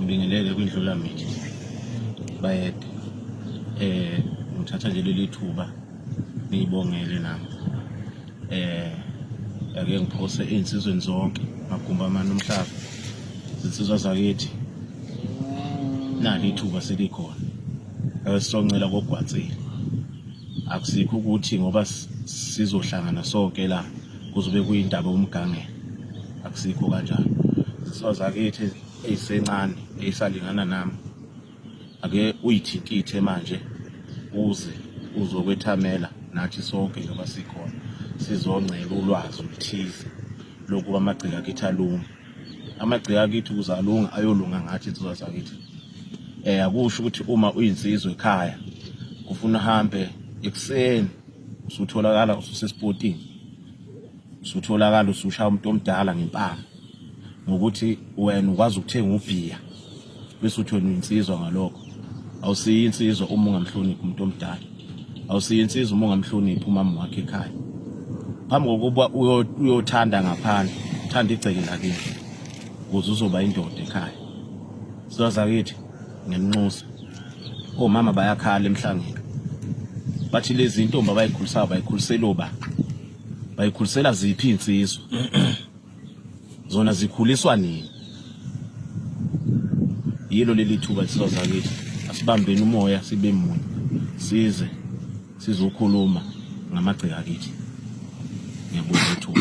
ngibingelele kwindlulamithi bayede eh ngithatha nje leli thuba ngiyibongele nami eh ake ngiphose insizweni zonke magumba amana umhlaba zinsizwa zakithi nali ithuba selikhona esisongcela kogwatsile akusikho ukuthi ngoba sizohlangana sonke la kuzobe kuyindaba umgangela akusikho kanjalo zinsizwa zakithi eyisencane eyisalingana nami ake uyithintithe manje uze uzokwethamela nathi sonke njengoba sikhona sizongcela ulwazi oluthize lokuba amagcika akithi alunga amagcika akithi ukuze alunga ayolunga ngathi insizwa zakithi um akusho ukuthi uma uyinsizwa ekhaya kufuna uhambe ekuseni usutholakala ususesipotini usutholakala usushaya umuntu omdala ngempama ngokuthi wena ukwazi ukuthenga ubhiya bese uthi wena uyinsizwa ngalokho awusiyi insizwa uma ungamhloniphi umuntu omdala awusiyi insizwa uma ungamhloniphi umama wakhe ekhaya phambi kokuba uyothanda ngaphandle uthanda igceke lakini ukuze uzoba indoda ekhaya sizazakithi ngenxusa omama bayakhala emhlangeni bathi lezi intombi abayikhulisayo bayikhulisela oba bayikhulisela ziphi insizwa zona zikhuliswa nini yilo leli thuba insizwa zakithi asibambeni umoya sibe munye size sizokhuluma ngamagceka kithi ngiyabonga ithuba